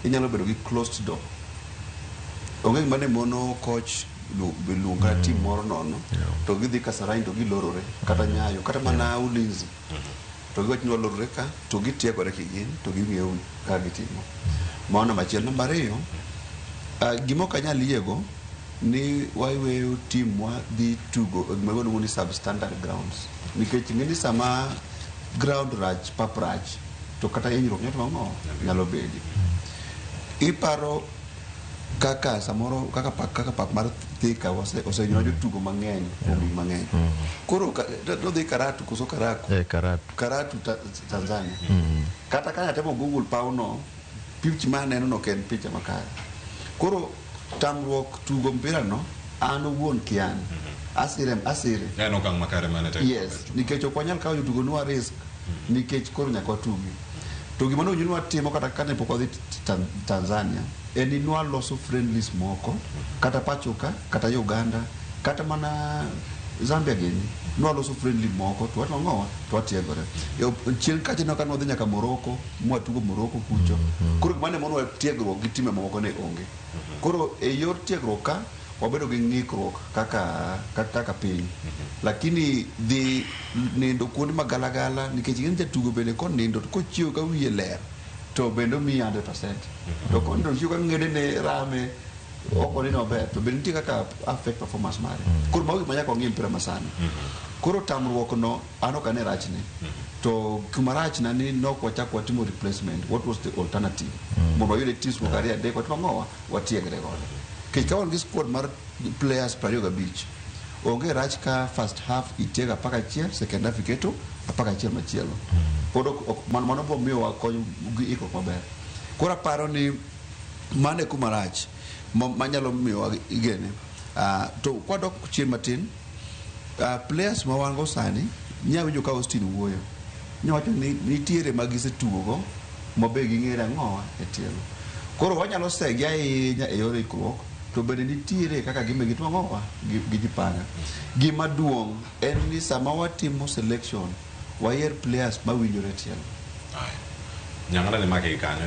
inyalo bedo gi closed door onge gima ne mono koch lu- luong kata tim moro nono to gidhi kasarani to gilorore kata nyayo kata mana ulinzi to giwacho ni walorore ka to gitiegore kigin to ging'eyo ka gitimo mano namba achiel namba ariyo ah, gima ok anyal yiego ni waweyo timwa dhi tugo e gima waluongo ni substandard grounds nikech ing'e ni sama Ground rach, pap rach, to kata hinyruok nyalo timo ang'o? Nyalo bedi. Iparo kaka samoro kaka pap, kaka pap mar Thika ose- osenywa jotugo mang'eny kuom higni mang'eny. Koro ka- to- to dhi Karatu koso Karaku? Eh, Karatu. Karatu ta, Tanzania. Kata ka atemo Google pawno, picha ma aneno no ok en picha makare. Koro Tamruok tugo mpira no an owuon kian. Asire asire. En okang' makare mane tek. Yes, nikech ok wanyal kawo jotugo nwa risk nikech koro nyaka watugi. To gima nowinjo nwa timo kata kane pok wadhi Tan- Tanzania en ni nwa loso friendlies moko kata pachoka kata Uganda kata mana Zambia gini nwa loso friendly moko to watong'owa to watiegore. E op- Chien kacha nwa ka nwadhi nyaka Morocco mwatugo Morocco kucho. Koro gima ne monowa tiegruok gi time mamoko ne onge. Koro e yor tiegruok ka wabedo gi ng'ikruok kaka ka- kaka piny. Lakini dhi nindo kuonde ma galagala nikech ing'e ni jatugo bende konindo to kochiew ka wiye ler to bende omiyi 100%. To konindo ochiew ka ng'edene rame ok oneno maber to bende nitie kaka affect performance mare. Koro mago gik ma nyaka wang'e e mpira masani. Koro tamruokno An ok ane rachne. To kuma rachna ni nok wachak watimo replacement. What was the alternative? Mondo wayud at least moko ariyo adek watimo ang'o wa? Watiegre godo. Nikech ka wan gi squad mar players piero ariyo gabich, onge rach ka first half itiego apar gachiel, second half iketo apar gachiel machielo. Pod ok, ok mano, mano biro miyowa kony gi ikruok maber. Koro aparo ni mano e kuma rach ma- manyalo miyowa igene. Ah, to kwadok chien matin, Uh, players ma wan go sani nya winjo ka Austin wuoyo nya wacho ni nitiere ma gisetugogo ma be ging'ere ang'owa e tielo koro wanyalo segi ahinya e yor ikruok to bende nitiere kaka gimbe gitimo ang'owa gi gi jipanga gima duong' en ni sama watimo selection wayier players ma winjore e tielo Nyang'ala ne make kanyo.